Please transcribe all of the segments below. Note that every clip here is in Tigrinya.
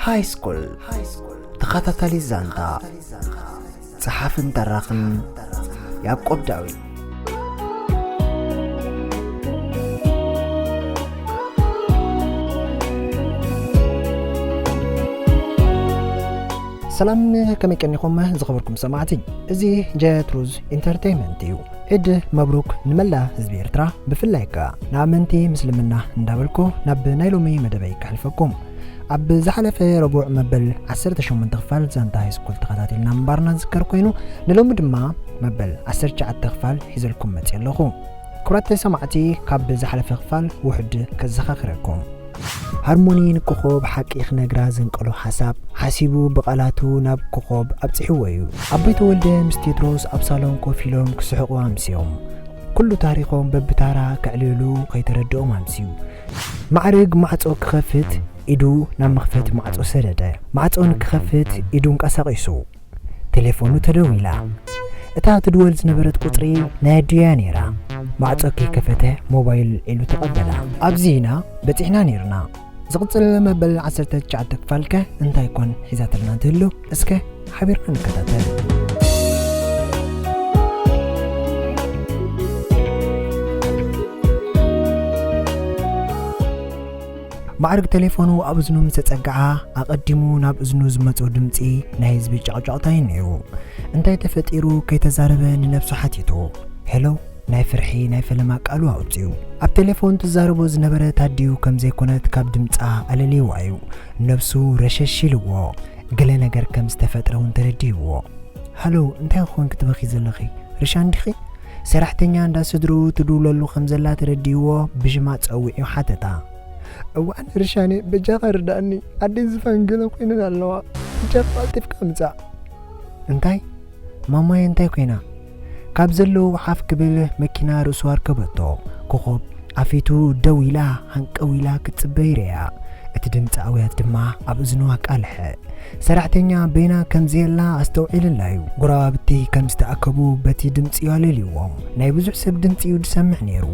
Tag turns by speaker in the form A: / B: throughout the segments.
A: ሃይስኩል ተኸታታሊ ዛንታ ጸሓፍን ተራኽን ያዕቆብ ዳዊት ሰላም ከመይ ቀኒኹም ዝኸበርኩም ሰማዕቲ እዚ ጀትሩዝ ኢንተርተይንመንት እዩ ዒድ መብሩክ ንመላእ ህዝቢ ኤርትራ ብፍላይ ክኣ ንኣመንቲ ምስልምና እንዳበልኩ ናብ ናይ ሎሚ መደበይ ከሕልፈኩም ኣብ ዝሓለፈ ረቡዕ መበል ዓሰርተ ሸሞንተ ክፋል ዛንታ ሃይስኩል ተኸታቲልና ምንባርና ዝዝከር ኮይኑ ንሎሚ ድማ መበል ዓሰርተ ትሽዓተ ክፋል ሒዘልኩም መጽየ ኣለኹ ክብራት ሰማዕቲ ካብ ዝሓለፈ ክፋል ውሑድ ከዘኻኽረኩም ሃርሞኒ ንኮኾብ ሓቂ ክነግራ ዘንቀሎ ሓሳብ ሓሲቡ ብቓላቱ ናብ ኮኾብ ኣብጺሕዎ እዩ። ኣቦይ ተወልደ ምስ ቴድሮስ ኣብ ሳሎን ኮፍ ኢሎም ክስሕቑ ኣምስዮም። ኩሉ ታሪኾም በብታራ ከዕልሉ ከይተረድኦም ኣምስዩ። ማዕርግ ማዕጾ ክኸፍት ኢዱ ናብ መኽፈቲ ማዕጾ ሰደደ። ማዕጾ ንክኸፍት ኢዱ ኣንቀሳቒሱ። ተሌፎኑ ተደዊላ። እታ ትድወል ዝነበረት ቁጽሪ ናይ ኣዲኡ'ያ ነይራ። ማዕጾ ከይከፈተ ሞባይሉ ኣልዒሉ ተቐበላ። ኣብዚ ኢና በጺሕና ነይርና። ዝቕጽል መበል ዓሰርተ ትሽዓተ ክፋል'ከ እንታይ ኮን ሒዛትልና ትህሉ? እስከ ሓቢርና ንከታተል። ማዕርግ ቴሌፎኑ ኣብ እዝኑ ምስ ተጸግዓ ኣቐዲሙ ናብ እዝኑ ዝመጾ ድምጺ ናይ ህዝቢ ጨቕጨቕታ እዩ ነይሩ። እንታይ ተፈጢሩ ከይተዛረበ ንነብሱ ሓቲቱ። ሄሎ ናይ ፍርሒ ናይ ፈለማ ቃሉ ኣውጺኡ። ኣብ ቴሌፎን ትዛረቦ ዝነበረት ኣዲኡ ከም ዘይኮነት ካብ ድምጻ ኣለልይዋ እዩ ነብሱ ረሸሽ ኢልዎ። ገለ ነገር ከም ዝተፈጥረ እውን ተረዲእዎ። ሃሎ እንታይ ክኾን ክትበኺ ዘለኺ ርሻን ዲኺ? ሰራሕተኛ እንዳ ስድርኡ ትድውለሉ ከም ዘላ ተረዲእዎ ብሽማ ጸዊዑ ሓተታ። እዋን ርሻኔ በጃኻ ርድኣኒ ኣደይ ዝፋን ገለ ኮይነን ኣለዋ በጃኻ ቀልጢፍካ ምጻእ። እንታይ? ማማየ እንታይ ኮይና? ካብ ዘለዉ ሓፍ ክብል መኪና ርእሱ ኣርከበቶ። ኮኾብ ኣፌቱ ደው ኢላ ሃንቀው ኢላ ክትጽበ ይርእያ። እቲ ድምጺ ኣውያት ድማ ኣብ እዝኑ ኣቃልሐ። ሰራሕተኛ በይና ከም ዘየላ ኣስተውዒልላ'ዩ። ጎረባብቲ ከም ዝተኣከቡ በቲ ድምጺ'ዩ ኣለልዩዎም። ናይ ብዙሕ ሰብ ድምጺ'ዩ ዝሰምዕ ነይሩ።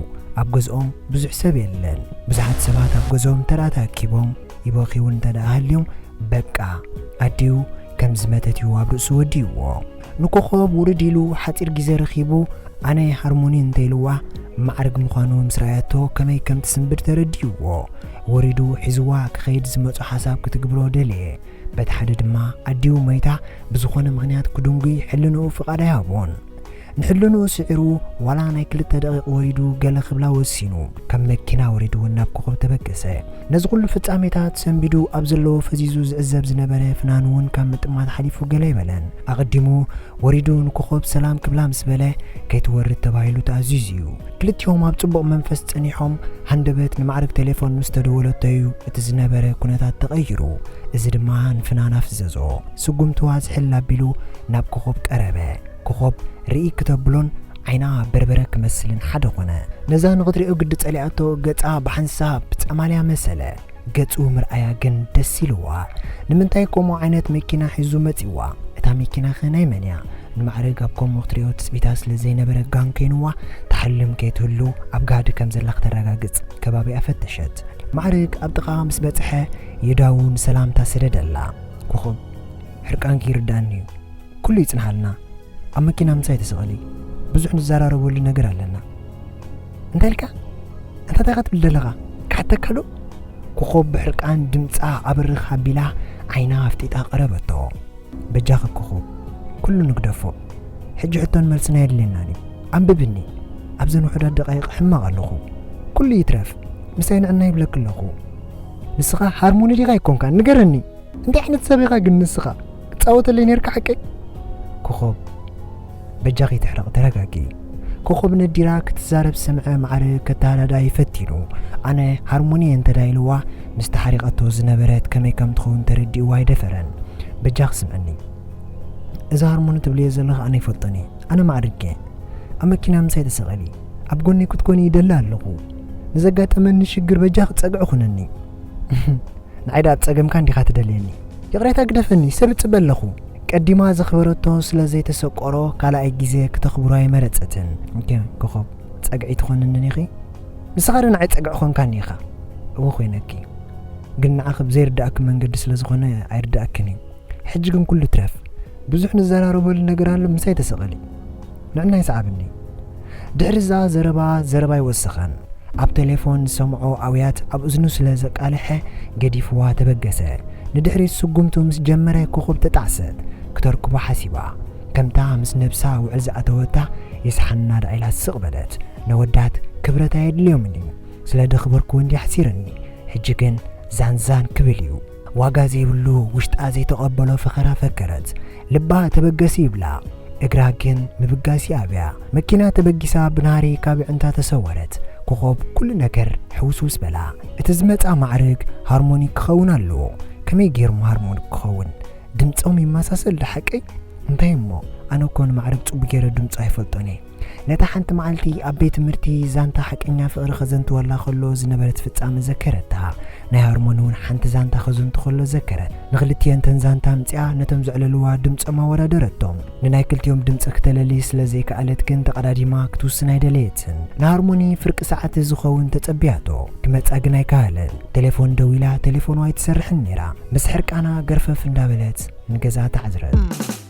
A: ኣብ ገዝኦም ብዙሕ ሰብ የለን። ብዙሓት ሰባት ኣብ ገዝኦም እንተደኣ ተኣኪቦም ይበኽዩ'ውን እንተደኣ ሃልዮም በቃ ኣዲኡ ከም ዝመተት'ዩ ኣብ ርእሱ ወዲኡዎ። ንኮኾብ ውርድ ኢሉ ሓጺር ግዜ ረኺቡ ኣነ ሃርሞኒ እንተኢልዋ ማዕርግ ምዃኑ ምስ ረኣያቶ ከመይ ከም ትስንብድ ተረዲእዎ ወሪዱ ሒዝዋ ክኸይድ ዝመጾ ሓሳብ ክትግብሮ ደለየ በቲ ሓደ ድማ ኣዲኡ ሞይታ ብዝኾነ ምኽንያት ክድንጉይ ሕልንኡ ፍቓድ ኣይሃቦን ንሕልንኡ ስዒሩ ዋላ ናይ ክልተ ደቒቕ ወሪዱ ገለ ክብላ ወሲኑ ካብ መኪና ወሪዱ ናብ ኮኾብ ተበገሰ ነዚ ኩሉ ፍጻሜታት ሰንቢዱ ኣብ ዘለዎ ፈዚዙ ዝዕዘብ ዝነበረ ፍናን'ውን ካብ ምጥማት ሓሊፉ ገለ ኣይበለን። ኣቐዲሙ ወሪዱ ንኮኾብ ሰላም ክብላ ምስ በለ፣ ከይትወርድ ተባሂሉ ተኣዚዙ'ዩ። ክልቲኦም ኣብ ጽቡቕ መንፈስ ጸኒሖም፣ ሃንደበት ንማዕርግ ቴሌፎን ምስ ተደወለቶ'ዩ እቲ ዝነበረ ኩነታት ተቐይሩ። እዚ ድማ ንፍናን ኣፍዘዞ። ስጉምትዋ ዝሕል ኣቢሉ ናብ ኮኾብ ቀረበ። ኮኾብ ርእይ ክተብሎን ዓይና በርበረ ክመስልን ሓደ ኮነ። ነዛ ንኽትሪኦ ግዲ ጸሊኣቶ ገጻ ብሓንሳብ ጸማልያ መሰለ። ገጹ ምርኣያ ግን ደስ ኢልዋ። ንምንታይ ከምኡ ዓይነት መኪና ሒዙ መጺዋ? እታ መኪናኸ ናይ መን እያ? ንማዕርግ ኣብ ከምኡ ክትሪኦ ትጽቢታ ስለ ዘይነበረ ጋን ከይንዋ ትሓልም ከይትህሉ ኣብ ጋህዲ ከም ዘላ ክተረጋግጽ ከባቢኣ ፈተሸት። ማዕርግ ኣብ ጥቓኣ ምስ በጽሐ የዳዉ ንሰላምታ ሰደደላ። ኮኾብ ሕርቃንኪ ይርድኣኒ'ዩ። ኩሉ ይጽንሃልና ኣብ መኪና ምሳይ ተሰቐሊ ብዙሕ ንዘራረበሉ ነገር ኣለና እንታይ ኢልካ እንታይ ታይካ ትብል ዘለኻ ክሓተካ ዶ ኮኾብ ብሕርቃን ድምጻ ኣብርኽ ኣቢላ ዓይና ኣፍጢጣ ቀረበቶ በጃኺ ኮኾብ ኩሉ ንግደፎ ሕጂ ሕቶን መልስና የድልየናን እዩ ኣንብብኒ ኣብዘን ውሑዳት ደቃይቕ ሕማቕ ኣለኹ ኩሉ ይትረፍ ምሳይ ንዕና ይብለክ ኣለኹ ንስኻ ሃርሞኒ ዲኻ ኣይኮንካ ንገረኒ እንታይ ዓይነት ሰብ ኢኻ ግን ንስኻ ክትጻወተለይ ኔርካ ሓቀይ? ኮኾብ በጃኺ ትሕረቕ ተረጋጊ። ኮኾብ ነዲራ ክትዛረብ ሰምዐ ማዕረ ከተሃዳድኣ ይፈቲኑ። ኣነ ሃርሞኒ እየ እንተድኣ ኢልዋ ምስ ተሓሪቐቶ ዝነበረት ከመይ ከም ትኸውን ተረዲእዋ ኣይደፈረን። በጃኺ ስምዕኒ እዚ ሃርሞኒ ትብልዮ ዘለኺ ኣነ ይፈልጦን እየ። ኣነ ማዕርግ እየ። ኣብ መኪና ምሳይ ተሰቐሊ። ኣብ ጎነይ ክትኮኒ ይደሊ ኣለኹ። ንዘጋጠመኒ ሽግር በጃኺ ጸግዒ ኩንኒ። ንዓይ ደኣ ጸገምካ እንዲኻ ትደልየኒ ይቕሬታ ግደፈኒ ሰብ እጽበ ኣለኹ ቀዲማ ዘኽበረቶ ስለ ዘይተሰቆሮ ካልኣይ ግዜ ክተኽብሮ ኣይመረጸትን እንከ ኮኾብ ጸግዒ ትኾንንን ኢኺ ንስኻ ዶ ንዓይ ጸግዒ ኾንካኒ ኢኻ እወ ኮይነኪ ግን ንዓኺ ብዘይርዳእኪ መንገዲ ስለ ዝኾነ ኣይርዳእክን እዩ ሕጂ ግን ኩሉ ትረፍ ብዙሕ ንዘራረበሉ ነገር ኣሎ ምሳይ ተሰቐሊ ንዕና ይስዓብኒ ድሕሪ እዛ ዘረባ ዘረባ ኣይወሰኸን ኣብ ተሌፎን ዝሰምዖ ኣውያት ኣብ እዝኑ ስለ ዘቃለሐ ገዲፍዋ ተበገሰ ንድሕሪት ስጉምቱ ምስ ጀመረ ኮኾብ ተጣዕሰት ክተርክቦ ሓሲባ ከምታ ምስ ነብሳ ውዕል ዝኣተወታ ይስሓና ደኣ ኢላ ስቅ በለት ነወዳት ክብረት ኣየድልዮምን እዩ ስለ ደኽበርኩ እንድየ ኣሕሲርኒ ሕጂ ግን ዛን ዛን ክብል እዩ ዋጋ ዘይብሉ ውሽጣ ዘይተቐበሎ ፈኸራ ፈከረት። ልባ ተበገሲ ይብላ እግራ ግን ምብጋስ ይኣብያ። መኪና ተበጊሳ ብናህሪ ካብ ኣዕንታ ተሰወረት። ኮኾብ ኩሉ ነገር ሕውስውስ በላ። እቲ ዝመጽኣ ማዕርግ ሃርሞኒ ክኸውን ኣለዎ። ከመይ ገይሩ እሞ ሃርሞኒ ክኸውን? ድምጾም ይመሳሰል ዶ ሓቀይ? እንታይ እሞ ኣነ እኮ ንማዕርግ ጽቡቕ ገይረ ድምጹ ኣይፈልጦን እየ። ነታ ሓንቲ መዓልቲ ኣብ ቤት ትምህርቲ ዛንታ ሓቀኛ ፍቕሪ ከዘንትወላ ከሎ ዝነበረት ፍጻመ ዘከረታ። ናይ ሀርሞን እውን ሓንቲ ዛንታ ከዘንቱ ከሎ ዘከረት። ንክልቲኤን እተን ዛንታ ኣምጺኣ ነቶም ዘዕለልዋ ድምጾም ኣወዳደረቶም። ንናይ ክልቲኦም ድምጺ ክተለሊ ስለ ዘይከኣለት ግን ተቐዳዲማ ክትውስን ኣይደለየትን። ንሀርሞኒ ፍርቂ ሰዓት ዝኸውን ተጸብያቶ። ክመጻ ግን ኣይከኣለን። ቴሌፎን ደዊላ ቴሌፎኑ ኣይትሰርሕን ነይራ። ምስ ሕርቃና ገርፈፍ እንዳበለት ንገዝኣ ተዓዝረት።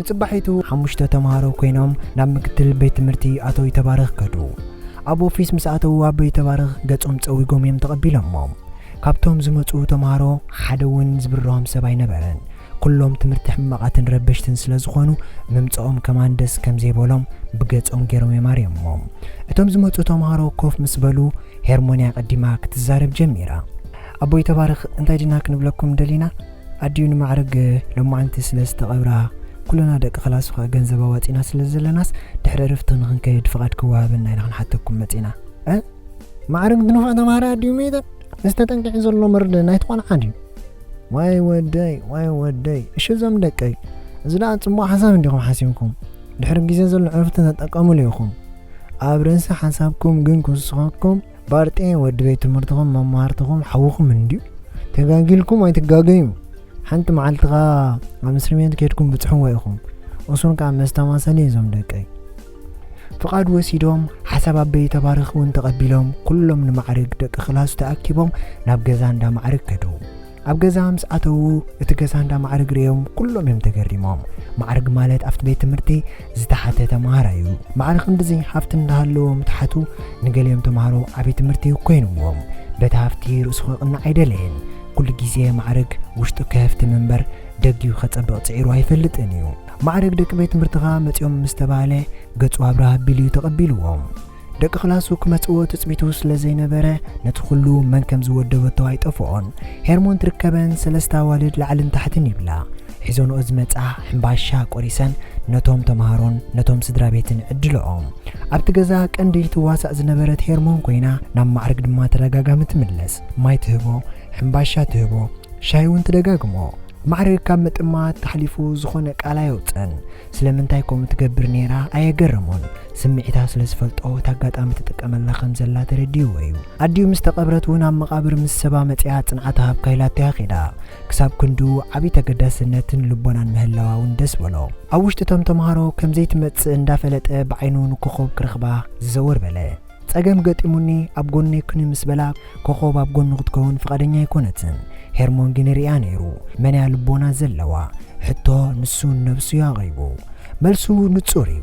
A: ንጽባሒቱ ሓሙሽተ ተመሃሮ ኮይኖም ናብ ምክትል ቤት ትምህርቲ ኣቶ ይተባረኽ ከዱ። ኣብ ኦፊስ ምስ ኣተዉ ኣቦ ይተባረኽ ገጾም ጸዊጎም እዮም ተቐቢሎሞም። ካብቶም ዝመጹ ተመሃሮ ሓደ እውን ዝብርሆም ሰብ ኣይነበረን። ኩሎም ትምህርቲ ሕማቓትን ረበሽትን ስለ ዝኾኑ ምምጸኦም ከማን ደስ ከም ዘይበሎም ብገጾም ገይሮም እዮም ኣርዮሞም። እቶም ዝመጹ ተመሃሮ ኮፍ ምስ በሉ ሄርሞንያ ቀዲማ ክትዛረብ ጀሚራ። ኣቦ ይተባረኽ እንታይ ዲና ክንብለኩም ደሊና? ኣዲኡ ንማዕርግ ሎማዓንቲ ስለ ዝተቐብራ ኩልና ደቂ ክላሱ ከኣ ገንዘብ ኣዋጺና ስለ ዘለናስ ድሕሪ ዕርፍቲ ንኽንከይድ ፍቓድ ክወሃበና ኢና ክንሓተኩም መጺና። እ ማዕርግ ድንፉዕ ተማሃራይ ኣዲኡ መይታ እዚ ተጠንቂዑ ዘሎ መርድእ ናይቲ ቆልዓ ድዩ? ዋይ ወደይ ዋይ ወደይ እሺ እዞም ደቀይ እዚ ደኣ ጽቡቕ ሓሳብ እንዲኹም ሓሲብኩም ድሕሪ ግዜ ዘሎ ዕርፍቲ ተጠቀምሉ ኢኹም ኣብ ርእሲ ሓሳብኩም ግን ክውስኸኩም ባርጤ ወዲ ቤት ትምህርትኹም መማህርትኹም ሓውኹም እንድዩ ተጋጊልኩም ኣይትጋገዩ ሓንቲ መዓልቲ ከ ኣብ እስሪ ቤት ከድኩም ብፅሕዎ ኢኹም እሱን ከዓ መስተማሰሊ እዩ እዞም ደቀይ ፍቓድ ወሲዶም ሓሳብ ኣበይ ተባረኽ እውን ተቐቢሎም ኩሎም ንማዕርግ ደቂ ክላሱ ተኣኪቦም ናብ ገዛ እንዳ ማዕርግ ከደዉ ኣብ ገዛ ምስ ኣተዉ እቲ ገዛ እንዳ ማዕርግ ርእዮም ኩሎም እዮም ተገሪሞም። ማዕርግ ማለት ኣብቲ ቤት ትምህርቲ ዝተሓተ ተምሃራይ እዩ። ማዕረ ክንድዚ ሃፍቲ እንዳሃለዎ ምትሓቱ ንገሊኦም ተምሃሮ ዓቢ ትምህርቲ ኮይንዎም። በቲ ሃፍቲ ርእሱ ክቕናዕ ኣይደለየን። ኩሉ ግዜ ማዕርግ ውሽጡ ከህፍትም እምበር ደጊኡ ከጸብቕ ጽዒሩ ኣይፈልጥን እዩ። ማዕርግ ደቂ ቤት ትምህርትኻ መጽዮም ምስ ተባህለ ገጹ ኣብራህ ኣቢሉ እዩ ተቐቢልዎም። ደቂ ክላሱ ክመጽእዎ ትጽቢቱ ስለ ዘይነበረ ነቲ ኩሉ መን ከም ዝወደበቶ ኣይጠፍኦን። ሄርሞን ትርከበን ሰለስተ ኣዋልድ ላዕልን ታሕትን ይብላ። ሒዞንኦ ዝመጻ ሕምባሻ ቆሪሰን ነቶም ተማሃሮን ነቶም ስድራቤትን ይዕድልኦም። ኣብቲ ገዛ ቀንዲ ትዋሳእ ዝነበረት ሄርሞን ኮይና ናብ ማዕርግ ድማ ተደጋጋሚ ትምለስ። ማይ ትህቦ፣ ሕምባሻ ትህቦ፣ ሻሂ'ውን ትደጋግሞ። ማዕርግ ካብ ምጥማት ሓሊፉ ዝኾነ ቃል ኣየውጽእን። ስለምንታይ ከምኡ ትገብር ነይራ ኣየገረሞን። ስምዒታ ስለ ዝፈልጦ እቲ ኣጋጣሚ ትጥቀመላ ከም ዘላ ተረዲእዎ እዩ። ኣዲኡ ምስ ተቐብረት እውን ኣብ መቓብር ምስ ሰባ መጺኣ ጽንዓታ ሃብካ ኢላቶ እያ ከይዳ። ክሳብ ክንድኡ ዓብዪ ተገዳስነትን ልቦናን ምህላዋ እውን ደስ በሎ። ኣብ ውሽጢ እቶም ተመሃሮ ከም ዘይትመጽእ እንዳፈለጠ ብዓይኑ ንኮኾብ ክረኽባ ዝዘወር በለ። ጸገም ገጢሙኒ ኣብ ጎነይ ኩኒ ምስ በላ ኮኾብ ኣብ ጎኑ ክትከውን ፍቓደኛ ኣይኮነትን። ሄርሞን ግን ይርእያ ነይሩ። መን እያ ልቦና ዘለዋ? ሕቶ ንሱ ንነብሱ እዩ ኣቕሪቡ። መልሱ ንጹር እዩ።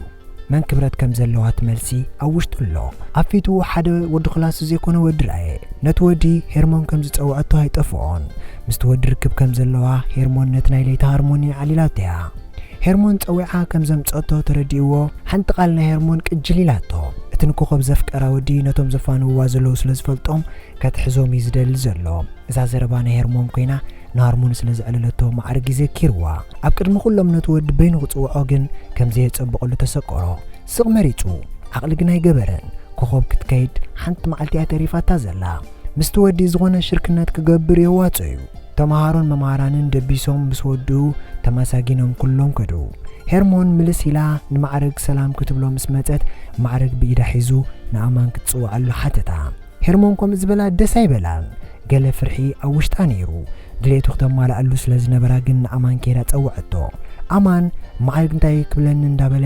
A: መን ክብረት ከም ዘለዋ እቲ መልሲ ኣብ ውሽጡ ኣሎ። ኣብ ፊቱ ሓደ ወዲ ክላሱ ዘይኮነ ወዲ ረኣየ። ነቲ ወዲ ሄርሞን ከም ዝጸውዐቶ ኣይጠፍኦን። ምስቲ ወዲ ርክብ ከም ዘለዋ ሄርሞን ነቲ ናይ ለይቲ ሃርሞኒ ኣዕሊላቶ እያ። ሄርሞን ጸዊዓ ከም ዘምጸእቶ ተረዲእዎ ሓንቲ ቃል ናይ ሄርሞን ቅጅል ኢላቶ እቲ ንኮኾብ ዘፍቀራ ወዲ ነቶም ዘፋንውዋ ዘለዉ ስለ ዝፈልጦም ከትሕዞም እዩ ዝደሊ ዘሎ እዛ ዘረባ ናይ ሄርሞን ኮይና ንሃርሙኒ ስለ ዘዕለለቶ ማዕርግ እዩ ዘኪርዋ ኣብ ቅድሚ ኩሎም ነቲ ወዲ በይኑ ክጽውዖ ግን ከም ዘየጸብቐሉ ተሰቆሮ ስቕ መሪጹ ዓቕሊ ግና ኣይገበረን። ኮኾብ ክትከይድ ሓንቲ መዓልቲ እያ ተሪፋታ ዘላ። ምስቲ ወዲ ዝኾነ ሽርክነት ክገብር የዋጽኦ'ዩ። ተመሃሮን መማህራንን ደቢሶም ምስ ወድኡ ተማሳጊኖም ኩሎም ከዱ። ሄርሞን ምልስ ኢላ ንማዕርግ ሰላም ክትብሎ ምስ መጸት ማዕርግ ብኢዳ ሒዙ ንኣማን ክትጽውዓሉ ሓተታ። ሄርሞን ከምኡ ዝበላ ደስ ኣይበላን። ገለ ፍርሒ ኣብ ውሽጣ ነይሩ። ድሌቱ ክተማልኣሉ ስለ ዝነበራ ግን ንኣማን ከይዳ ጸውዐቶ። ኣማን ማዕርግ እንታይ ክብለኒ እንዳበለ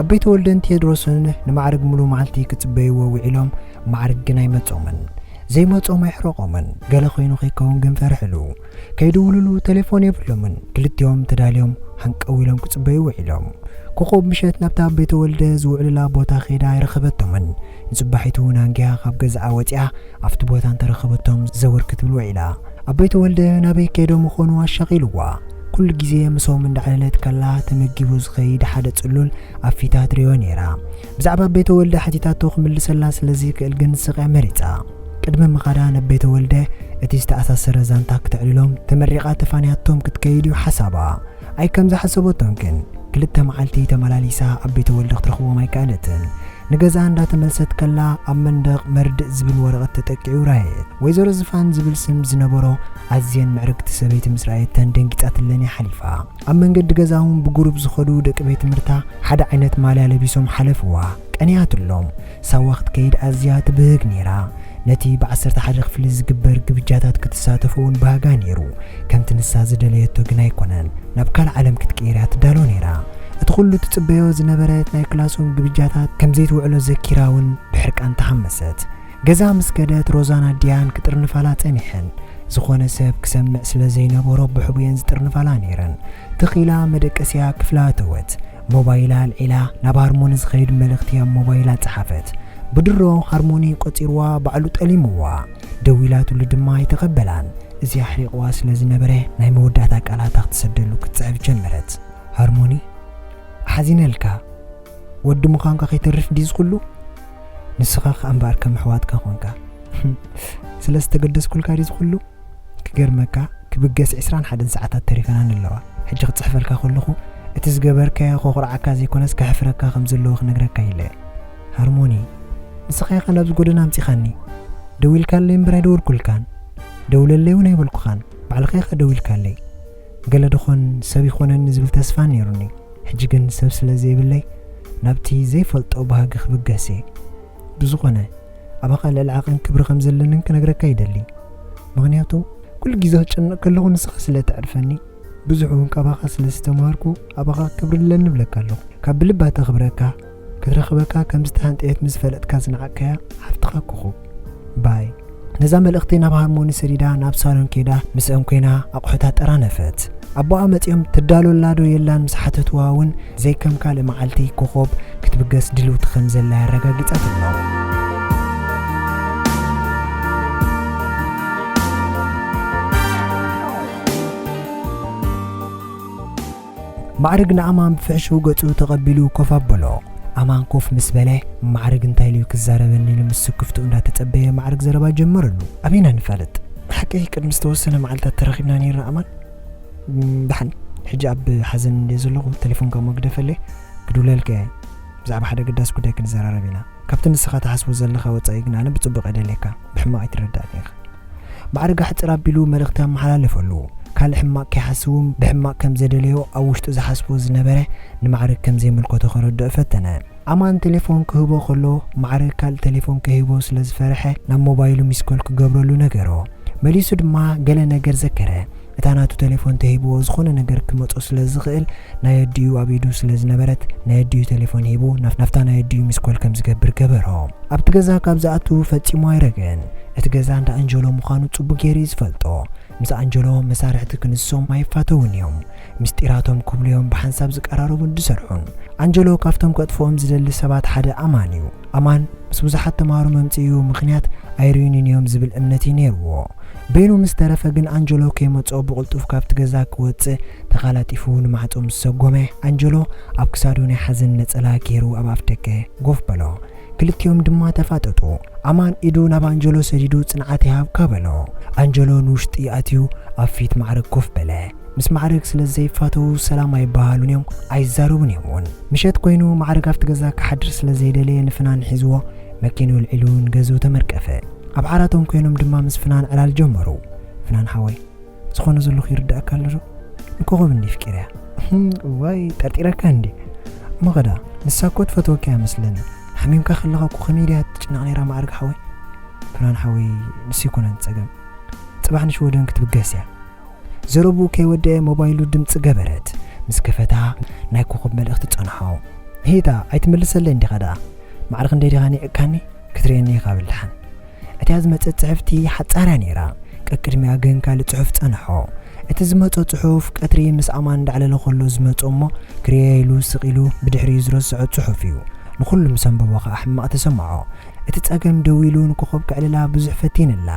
A: ኣቦይ ተወልደን ቴድሮስን ንማዕርግ ምሉእ መዓልቲ ክጽበይዎ ውዒሎም፣ ማዕርግ ግን ኣይመጾምን። ዘይመጾም ኣይሕረቖምን፣ ገለ ኮይኑ ከይከውን ግን ፈርሕሉ። ከይድውሉሉ ተሌፎን የብሎምን፣ ክልቲኦም ተዳልዮም ሃንቀው ኢሎም ክጽበዩ ውዒሎም። ኮኾብ ምሸት ናብታ ኣቦይ ተወልደ ዝውዕሉላ ቦታ ከይዳ ኣይረኸበቶምን፣ ንጽባሒቱ ናንጊያ ካብ ገዝኣ ወጺኣ፣ ኣብቲ ቦታ እንተረኸበቶም ዘወር ክትብል ውዒላ። ኣቦይ ተወልደ ናበይ ከይዶም ምኾኑ ኣሻቒልዋ። ኩሉ ግዜ ምሶም እንዳዕለለት ከላ ተመጊቡ ዝኸይድ ሓደ ጽሉል ኣብ ፊታ ትሪኦ ነይራ። ብዛዕባ ኣቦይ ተወልደ ሓቲታቶ ክምልሰላ ስለ ዘይክእል ግን ስቕያ መሪጻ። ቅድሚ ምኻዳ ነቦይ ተወልደ እቲ ዝተኣሳሰረ ዛንታ ክተዕልሎም ተመሪቓ ተፋንያቶም ክትከይድ እዩ ሓሳባ። ኣይ ከም ዝሓሰበቶን ግን ክልተ መዓልቲ ተመላሊሳ ኣብ ቤተ ወልዲ ክትረኽቦም ኣይከኣለትን። ንገዝኣ እንዳ ተመልሰት ከላ ኣብ መንደቕ መርድእ ዝብል ወረቐት ተጠቂዑ ረኣየት። ወይዘሮ ዝፋን ዝብል ስም ዝነበሮ ኣዝየን ምዕርግቲ ሰበይቲ ምስ ረኣየተን ደንጊጻትለን እያ ሓሊፋ። ኣብ መንገዲ ገዛ'ውን ብጉሩብ ዝኸዱ ደቂ ቤት ትምህርታ ሓደ ዓይነት ማልያ ለቢሶም ሓለፍዋ። ቀኒኣትሎም። ሳዋ ክትከይድ ኣዝያ ትብህግ ነይራ። ነቲ ብዓሰርተ ሓደ ክፍሊ ዝግበር ግብጃታት ክትሳተፍ እውን ባህጋ ነይሩ። ከምቲ ንሳ ዝደለየቶ ግን ኣይኰነን። ናብ ካልእ ዓለም ክትቅየር እያ ትዳሎ ነይራ። እቲ ኵሉ ትጽበዮ ዝነበረት ናይ ክላስሩም ግብጃታት ከም ዘይትውዕሎ ዘኪራ እውን ብሕርቃን ተሃመሰት። ገዛ ምስ ከደት ሮዛን ኣዲኣን ክጥርንፋላ ጸኒሐን። ዝዀነ ሰብ ክሰምዕ ስለ ዘይነበሮ ብሕቡኤን ዝጥርንፋላ ነይረን። ትኽ ኢላ መደቀሲኣ ክፍላ ኣተወት። ሞባይላ ኣልዒላ ናብ ሃርሞኒ ዝኸይድ መልእኽቲ ኣብ ሞባይላ ጸሓፈት። ብድሮ ሃርሞኒ ቆጺርዋ ባዕሉ ጠሊምዋ። ደዊላትሉ ድማ ኣይተቐበላን። እዚ ኣሕሪቕዋ ስለ ዝነበረ ናይ መወዳእታ ቃላታ ክትሰደሉ ክትጽሕፍ ጀመረት። ሃርሞኒ ሓዚነልካ። ወዲ ምዃንካ ከይተርፍ ድዩ እዚ ኩሉ? ንስኻ ከኣ እምበኣር ከም ኣሕዋትካ ኮንካ። ስለ ዝተገደስኩልካ ድዩ እዚ ኩሉ? ክገርመካ ክብገስ ዕስራን ሓደን ሰዓታት ተሪፈናኒ ኣለዋ ሕጂ ክጽሕፈልካ ከለኩ እቲ ዝገበርካዮ ከኩርዓካ ዘይኮነስ ከሕፍረካ ከም ዘለዎ ክነግረካ ኢለ እየ ሃርሞኒ ንስካ ኢካ ናብዚ ጎደና ኣምጺካኒ ደዊልካለይ እምበር ኣይደወልኩልካን ደውለለይ ውን ኣይበልኩካን ባዕልካ ኢካ ደዊልካለይ ገለ ድኮን ሰብ ይኮነኒ ዝብል ተስፋ ኔሩኒ ሕጂ ግን ሰብ ስለ ዘይብለይ ናብቲ ዘይፈልጦ ባህጊ ክብገስ እየ ብዝኾነ ኣባኻ ልዕሊ ዓቐን ክብሪ ከም ዘለንን ክነግረካ ይደሊ። ምኽንያቱ ኩሉ ግዜ ክጨነቕ ከለኹ ንስኻ ስለ እተዕርፈኒ ብዙሕ እውን ካባኻ ስለ ዝተማሃርኩ ኣባኻ ክብሪ ኣለኒ እብለካ ኣለኹ። ካብ ብልባ ተኽብረካ ክትረኽበካ ከም ዝተሃንጠየት ምስ ፈለጥካ ዝነዓቕካያ ሓፍትኻ ኮኾብ። ባይ። ነዛ መልእኽቲ ናብ ሃርሞኒ ሰዲዳ ናብ ሳሎን ከይዳ ምስእም ኮይና ኣቑሑት ኣጠራነፈት። ኣቦኣ መጺኦም ትዳሎላዶ የላን ምስ ሓተትዋ እውን ዘይከም ካልእ መዓልቲ ኮኾብ ክትብገስ ድልውቲ ከም ዘላ ኣረጋጊጻትሎም። ማዕርግ ንኣማን ብፍሕሽው ገጹ ተቐቢሉ ኮፍ ኣበሎ። ኣማን ኮፍ ምስ በለ፣ ማዕርግ እንታይ ኢሉ'ዩ ክዛረበኒ ኢሉ ምስ ስክፍትኡ እንዳተጸበየ ማዕርግ ዘረባ ጀመረሉ። ኣበይና ንፋለጥ? ብሓቂ ቅድሚ ዝተወሰነ መዓልታት ተራኺብና ኔርና ኣማን። ደሓን፣ ሕጂ ኣብ ሓዘን እንድየ ዘለኹ፣ ተሌፎንካ እሞ ግደፈለይ፣ ክድውለልካ'የ፣ ብዛዕባ ሓደ ኣገዳሲ ጉዳይ ክንዘራረብ ኢና። ካብቲ ንስኻ ትሓስቦ ዘለኻ ወጻኢ ግን ኣነ ብጽቡቕ እደልየካ ብሕማቕ ኣይትረዳእኒ ኢኻ። ማዕረ ጋሕጥር ኣቢሉ መልእኽቲ ኣመሓላለፈሉ። ካልእ ሕማቕ ከይሓስብውን ብሕማቕ ከም ዘደለዮ ኣብ ውሽጡ ዝሓስቦ ዝነበረ ንማዕረ ከም ዘይምልከቶ ከረድኦ ፈተነ። ኣማን ተሌፎን ክህቦ ከሎ ማዕረ ካልእ ተሌፎን ከይህቦ ስለ ዝፈርሐ ናብ ሞባይሉ ሚስኮል ክገብረሉ ነገሮ። መሊሱ ድማ ገለ ነገር ዘከረ። እታ ናቱ ተሌፎን ተሂብዎ ዝኾነ ነገር ክመጾ ስለ ዝኽእል ናይ ኣዲኡ ኣብ ኢዱ ስለ ዝነበረት ናይ ኣዲኡ ተሌፎን ሂቡ ናፍታ ናይ ኣዲኡ ሚስኮል ከም ዝገብር ገበሮ። ኣብቲ ገዛ ካብ ዝኣቱ ፈጺሙ ኣይረገን። እቲ ገዛ እንዳ ኣንጀሎ ምዃኑ ጽቡቅ ጌሩ እዩ ዝፈልጦ። ምስ ኣንጀሎ መሳርሕቲ ክንሶም ኣይፋተዉን እዮም። ምስጢራቶም ክብሉ እዮም ብሓንሳብ ዝቀራረቡን ዝሰርሑን። ኣንጀሎ ካብቶም ከጥፍኦም ዝደሊ ሰባት ሓደ ኣማን እዩ። ኣማን ምስ ብዙሓት ተማሃሮ መምጽኢኡ ምኽንያት ኣይርዩኒን እዮም ዝብል እምነት እዩ ነይርዎ። በይኑ ምስ ተረፈ ግን ኣንጀሎ ከይመጽኦ ብቕልጡፍ ካብቲ ገዛ ክወጽእ ተቓላጢፉ ንማዕጾ ምስ ሰጎመ፣ ኣንጀሎ ኣብ ክሳዱ ናይ ሓዘን ነጸላ ገይሩ ኣብ ኣፍደገ ጎፍ በሎ። ክልቲኦም ድማ ተፋጠጡ። ኣማን ኢዱ ናብ ኣንጀሎ ሰዲዱ ጽንዓት ይሃብካ በሎ። ኣንጀሎ ንውሽጢ ኣትዩ ኣብ ፊት ማዕርግ ኮፍ በለ። ምስ ማዕርግ ስለ ዘይፋተዉ ሰላም ኣይበሃሃሉን እዮም ኣይዛረቡን እዮም ውን። ምሸት ኮይኑ ማዕርግ ኣብቲ ገዛ ክሓድር ስለ ዘይደለየ ንፍናን ሒዝዎ መኪንኡ ኣልዒሉ ንገዝኡ ተመርቀፈ። ኣብ ዓራቶም ኮይኖም ድማ ምስ ፍናን ዕላል ጀመሩ። ፍናን ሓወይ ዝኾነ ዘለኹ ይርደኣካ ኣሎ ዶ? ንኮኾብ እንድየ ኣፍቂረያ። እዋይ ጠርጢረካ እንድየ እሞ ከዳ ንሳ እኮ ትፈትወካ እያ መስለኒ ሓሚምካ ከለኻ እኮ ከመይ ድያ ትጭነቕ ነይራ ማዕርግ ሓወይ። ፍናን ሓወይ ንሱ ኣይኮነን ጸገም ጽባሕ ንሽወደን ክትብገስ እያ። ዘረብኡ ከይወደኤ ሞባይሉ ድምጺ ገበረት ምስ ከፈታ ናይ ኮኾብ መልእኽቲ ጸንሖ። ሂታ ኣይትምልሰለይን ዲኻ ደኣ? ማዕረ ክንደይ ዲኻ ኒዕቅካኒ ክትርእየኒ ኢኻ ብልሓን። እቲኣ ዝመጸት ጽሕፍቲ ሓጻርያ ነይራ ቀቅድሚኣ ግን ካልእ ጽሑፍ ጸንሖ። እቲ ዝመጾ ጽሑፍ ቀትሪ ምስ ኣማን እንዳዕለለ ከሎ ዝመጾ እሞ ክርእያ ኢሉ ስቅ ኢሉ ብድሕሪኡ ዝረሰዖ ጽሑፍ እዩ። ንኹሉ ምስ ኣንበቦ ከኣ ሕማቅ ተሰምዖ። እቲ ጸገም ደዊሉ ንኮኾብ ከዕልላ ብዙሕ ፈቲንላ።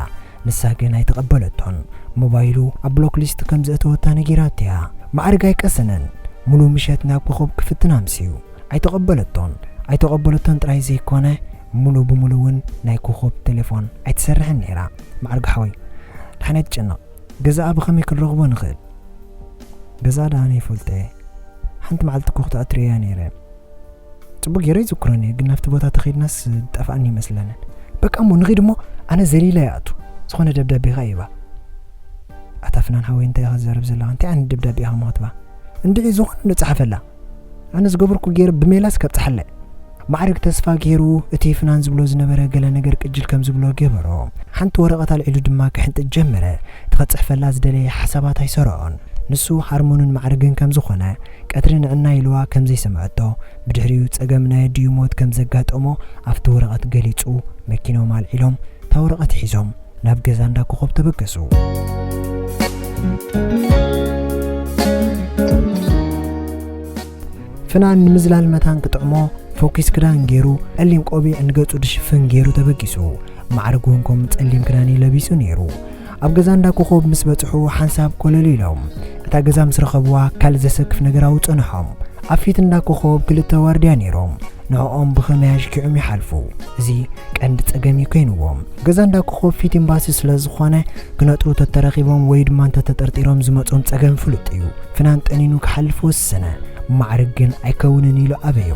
A: ንሳ ግን ኣይተቐበለቶን። ሞባይሉ ኣብ ብሎክ ሊስት ከም ዘእተወታ ነጊራቶ'ያ። መዓርግ ኣይቀሰነን። ምሉእ ምሸት ናብ ኮኾብ ክፍትን ኣምስዩ። ኣይተቐበለቶን። ኣይተቐበለቶን ጥራይ ዘይኮነ፣ ምሉእ ብምሉእ'ውን ናይ ኮኾብ ተሌፎን ኣይትሰርሕን ነይራ። መዓርግ ሓወይ! ድሓን ኣይትጨነቕ። ገዛኣ ብኸመይ ክንረኽቦ ንኽእል? ገዛኣ ድኣ ኣነ ይፈልጦ'የ። ሓንቲ መዓልቲ እኮ ክትኣትርዮ'ያ ነይረ። ፅቡቅ ገይረ ይዝክሮን እየ ግን ናብቲ ቦታ ተኸድናስ ዝጠፍኣኒ ይመስለንን በቃ እሞ ንኺድ እሞ ኣነ ዘሊለ ይኣቱ ዝኾነ ደብዳቤ ኸ ይባ ኣታ ፍናን ሃወይ እንታይ ኢኻ ዝዘረብ ዘለኻ እንታይ ዓይነት ደብዳቤ ኢኻ መክትባ እንድዒ ዝኾነ ንፅሓፈላ ኣነ ዝገበርኩ ገይረ ብሜላስ ከብፅሓለ ማዕርግ ተስፋ ገይሩ እቲ ፍናን ዝብሎ ዝነበረ ገለ ነገር ቅጅል ከም ዝብሎ ገበሮ ሓንቲ ወረቐት ኣልዒሉ ድማ ክሕንጥጥ ጀመረ እቲ ከፅሕፈላ ዝደለየ ሓሳባት ኣይሰረዖን ንሱ ሃርሞንን ማዕርግን ከም ዝኾነ ቀትሪ ንዕናይ ኢልዋ ከም ዘይሰምዐቶ፣ ብድሕሪኡ ጸገም ናይ ኣዲኡ ሞት ከም ዘጋጠሞ ኣብቲ ወረቐት ገሊጹ፣ መኪኖም ኣልዒሎም፣ እታ ወረቐት ሒዞም፣ ናብ ገዛ እንዳ ኮኾብ ተበገሱ። ፍናን ንምዝላል መታን ክጥዕሞ ፎኪስ ክዳን ገይሩ ጸሊም ቆቢዕ ንገጹ ድሽፍን ገይሩ ተበጊሱ። ማዕርግ እውን ከምኡ ጸሊም ክዳን እዩ ለቢሱ ነይሩ። ኣብ ገዛ እንዳ ኮኾብ ምስ በጽሑ ሓንሳብ ኮለል ኢሎም እታ ገዛ ምስ ረኸብዋ ካልእ ዘሰክፍ ነገር ኣውጸንሖም። ኣብ ፊት እንዳ ኮኾብ ክልተ ዋርድያ ኔሮም ንዕኦም ብኸመይ ኣሽኪዑም ይሓልፉ እዚ ቀንዲ ጸገም እዩ ከይንዎም። ገዛ እንዳ ኮኾብ ፊት ኤምባሲ ስለ ዝኾነ ክነጥሩ ተተረኺቦም ወይ ድማ እንተ ተጠርጢሮም ዝመጾም ጸገም ፍሉጥ እዩ። ፍናን ጠኒኑ ክሓልፍ ወሰነ። ብማዕርግ ግን ኣይከውንን ኢሉ ኣበዮ።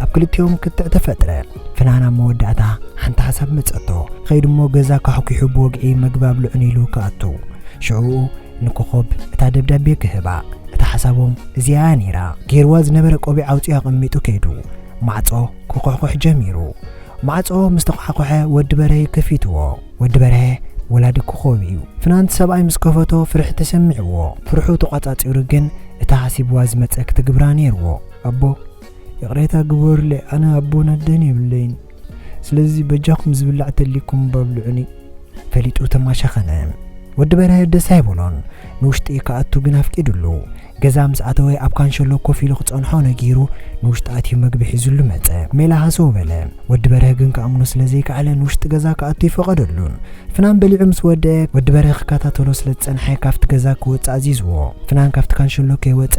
A: ኣብ ክልቲኦም ክትዕ ተፈጥረ። ፍናን ኣብ መወዳእታ ሓንቲ ሓሳብ መጸቶ። ኸይዱ እሞ ገዛ ካሕኲሑ ብወግዒ መግቢ ኣብልዑኒ ኢሉ ክኣቱ። ሽዑኡ ንኮኾብ እታ ደብዳቤ ክህባ። እታ ሓሳቦም እዚኣ እያ ነይራ። ገይርዋ ዝነበረ ቆቢዕ ኣውጺኡ ኣቐሚጡ ከይዱ። ማዕጾ ክዅሕዂሕ ጀሚሩ። ማዕጾ ምስ ተዃሕኰሐ ወዲ በርሀ ከፊትዎ። ወዲ በርሀ ወላዲ ኮኾብ እዩ። ፍናን እቲ ሰብኣይ ምስ ከፈቶ ፍርሒ ተሰሚዕዎ። ፍርሑ ተቋጻጺሩ ግን እታ ሓሲብዋ ዝመጸ ክትግብራ ነይርዎ። ኣቦ! ይቕሬታ ግበሩለይ ኣነ ኣቦን ኣደን የብለይን ስለዚ በጃኹም ዝብላዕ ተሊኩም ባብልዑኒ ፈሊጡ ተማሸኸነ ወዲ በርሀ ደስ ኣይበሎን ንውሽጢ ክኣቱ ግን ኣፍቂድሉ ገዛ ምስ ኣተወ ኣብ ካንሸሎ ኮፍ ኢሉ ክጸንሖ ነጊሩ ንውሽጢ ኣትዩ መግቢ ሒዙሉ መጸ ሜላ ሃሰው በለ ወዲ በርሀ ግን ክኣምኖ ስለ ዘይከኣለ ንውሽጢ ገዛ ክኣቱ ይፈቐደሉን ፍናን በሊዑ ምስ ወደኤ ወዲ በሬ ክከታተሎ ስለ ዝጸንሐ ካብቲ ገዛ ክወጽእ ኣዚዝዎ። ፍናን ካብቲ ካንሸሎ ከይወጸ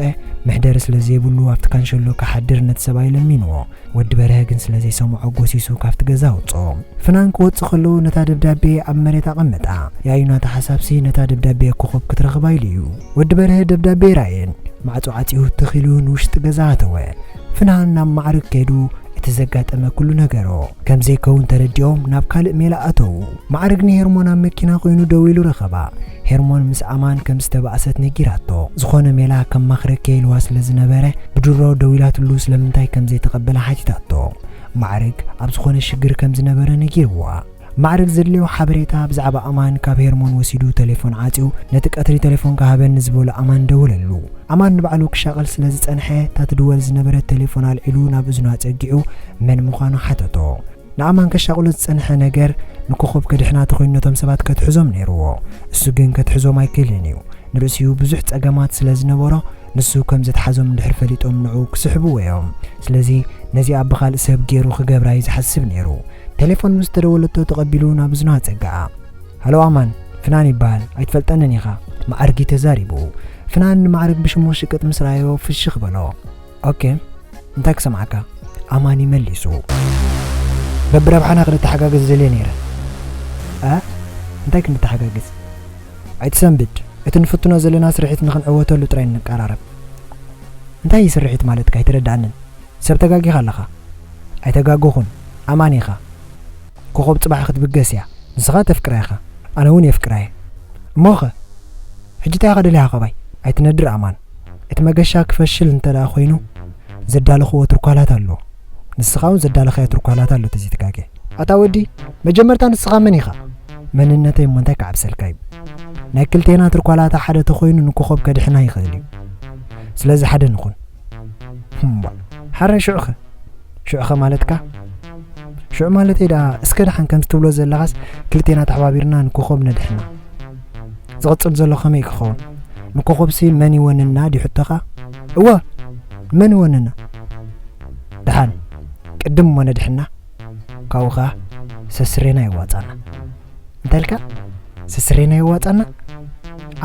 A: መሕደሪ ስለ ዘይብሉ ኣብቲ ካንሸሎ ክሓድር ነቲ ሰብኣይ ለሚንዎ። ወዲ በርሀ ግን ስለ ዘይሰምዖ ጎሲሱ ካብቲ ገዛ ኣውጽኦ። ፍናን ክወጽእ ከሎ ነታ ደብዳቤ ኣብ መሬት ኣቐመጣ። ያዩ ናታ ሓሳብሲ ነታ ደብዳቤ ኮኾብ ክትረኽባ ኢሉ እዩ። ወዲ በርሀ ደብዳቤ ኣይረኣየን። ማዕጾ ዓጽዩ ትኽ ኢሉ ንውሽጢ ገዛ ኣተወ። ፍናን ናብ ማዕርግ ከይዱ እቲ ዘጋጠመ ኩሉ ነገሮ። ከም ዘይከውን ተረዲኦም ናብ ካልእ ሜላ ኣተዉ። ማዕርግ ንሄርሞን ኣብ መኪና ኮይኑ ደው ኢሉ ረኸባ። ሄርሞን ምስ ኣማን ከም ዝተባእሰት ነጊራቶ። ዝኾነ ሜላ ከማኽረኪ'የ ኢልዋ ስለ ዝነበረ ብድሮ ደው ኢላትሉ ስለምንታይ ከም ዘይተቐበላ ሓቲታቶ። ማዕርግ ኣብ ዝኾነ ሽግር ከም ዝነበረ ነጊርዋ። ማዕርግ ዘድልዮ ሓበሬታ ብዛዕባ ኣማን ካብ ሄርሞን ወሲዱ ተሌፎን ዓጽዩ ነቲ ቀትሪ ተሌፎንካ ሃበኒ ንዝበሎ ኣማን ደወለሉ። ኣማን ንባዕሉ ክሻቐል ስለ ዝጸንሐ እታ ትድወል ዝነበረት ተሌፎን ኣልዒሉ ናብ እዝኑ ኣጸጊዑ መን ምዃኑ ሓተቶ። ንኣማን ከሻቕሎ ዝጸንሐ ነገር ንኮኾብ ከድሕና ተኾይኑ ነቶም ሰባት ከትሕዞም ነይርዎ። እሱ ግን ከትሕዞም ኣይክእልን እዩ። ንርእሲኡ ብዙሕ ጸገማት ስለ ዝነበሮ ንሱ ከም ዘትሓዞም እንድሕር ፈሊጦም ንዕኡ ክስሕብዎ እዮም። ስለዚ ነዚኣ ብኻልእ ሰብ ገይሩ ክገብራ እዩ ዝሓስብ ነይሩ። ቴሌፎን ምስ ተደወለቶ ተቐቢሉ ናብ እዝኑ ኣጸግዓ። ሃሎ ኣማን፣ ፍናን ይበሃል፣ ኣይትፈልጠንን ኢኻ። መዓርግ እዩ ተዛሪቡ። ፍናን ንመዓርግ ብሽሙ ሽቅጥ ምስ ረኣዮ ፍሽኽ በሎ። ኦኬ፣ እንታይ ክሰምዓካ? ኣማን እዩ መሊሱ። በብረብሓና ክንተሓጋገዝ ዘልየ ነይረ። ኣ እንታይ ክንተሓጋገዝ? ኣይትሰንብድ፣ እቲ ንፍትኖ ዘለና ስርሒት ንኽንዕወተሉ ጥራይ ንቀራረብ። እንታይ እዩ ስርሒት ማለትካ? ኣይተረድኣንን። ሰብ ተጋጊኻ ኣለኻ ኣይተጋገኹን ኣማኒ ኢኻ ኮኾብ ጽባሕ ክትብገስ እያ ንስኻ ተፍቅራ ኢኻ ኣነ ውን የፍቅራ እየ እሞኸ ሕጂ ታይ ኢኻ ደሊኻ ካባይ ኣይትነድር ኣማን እቲ መገሻ ክፈሽል እንተ ኮይኑ ዘዳለኽዎ ትርኳላት ኣሎ ንስኻ ውን ዘዳለኻዮ ትርኳላት ኣሎ ተዘይተጋግየ ኣታ ወዲ መጀመርታ ንስኻ መን ኢኻ መንነተይ እሞ እንታይ ክዓብሰልካ እዩ ናይ ክልቴና ትርኳላታ ሓደ ተኾይኑ ንኮኾብ ከድሕና ይኽእል እዩ ስለዚ ሓደ ንኹን። እሞ ሐራይ ሽዑኸ ሽዑኸ ማለትካ ሽዑ ማለተይ ደኣ እስከ ደሓን ከምቲ ትብሎ ዘለኻስ ክልቴና ተሓባቢርና ንኮኾብ ነድሕና ዝቕጽል ዘሎ ከመይ ክኸውን ንኮኾብሲ መን ይወንና ድዩ ሕቶኻ እወ መን ይወንና ደሓን ቅድም እሞ ነድሕና ካብኡ ከኣ ሰስሬና ይዋጻና እንታይ ኢልካ ስስረይ ናይ ዋጣና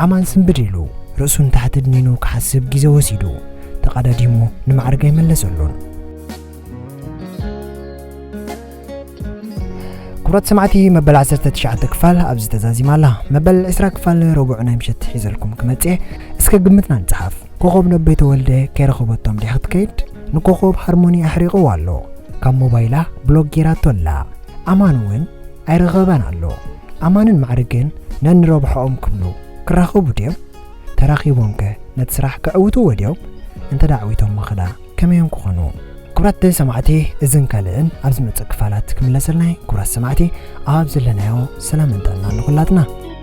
A: ኣማን ስንብድ ኢሉ ርእሱ ንታሕቲ ድኒኑ ክሓስብ ግዜ ወሲዱ ተቐዳዲሙ ንማዕርግ ኣይመለሰሉን ክብረት ሰማዕቲ መበል 19 ክፋል ኣብዚ ተዛዚማ ኣላ መበል 20 ክፋል ረቡዕ ናይ ምሸት ሒዘልኩም ክመጽእ እስከ ግምትና ንጽሓፍ ኮኸብ ነቦይ ተወልደ ከይረኸበቶም ድያ ክትከይድ ንኮኸብ ሃርሞኒ ኣሕሪቕዎ ኣሎ ካብ ሞባይላ ብሎግ ጌራቶ ኣላ ኣማን እውን ኣይረኸበን ኣሎ። ኣማንን ማዕርግን ነንረብሖኦም ክብሉ ክራኸቡ ድዮም? ተራኺቦምከ ነቲ ስራሕ ከዕውትዎ ድዮም? እንተ ኣዕዊቶሞ ኸኣ ከመዮም ክኾኑ? ክቡራት ሰማዕቲ እዝን ካልእን ኣብ ዝመጽእ ክፋላት ክምለሰልና እየ። ክቡራት ሰማዕቲ ኣብ ዘለናዮ ሰላምን ጥዕናን ንኹላትና።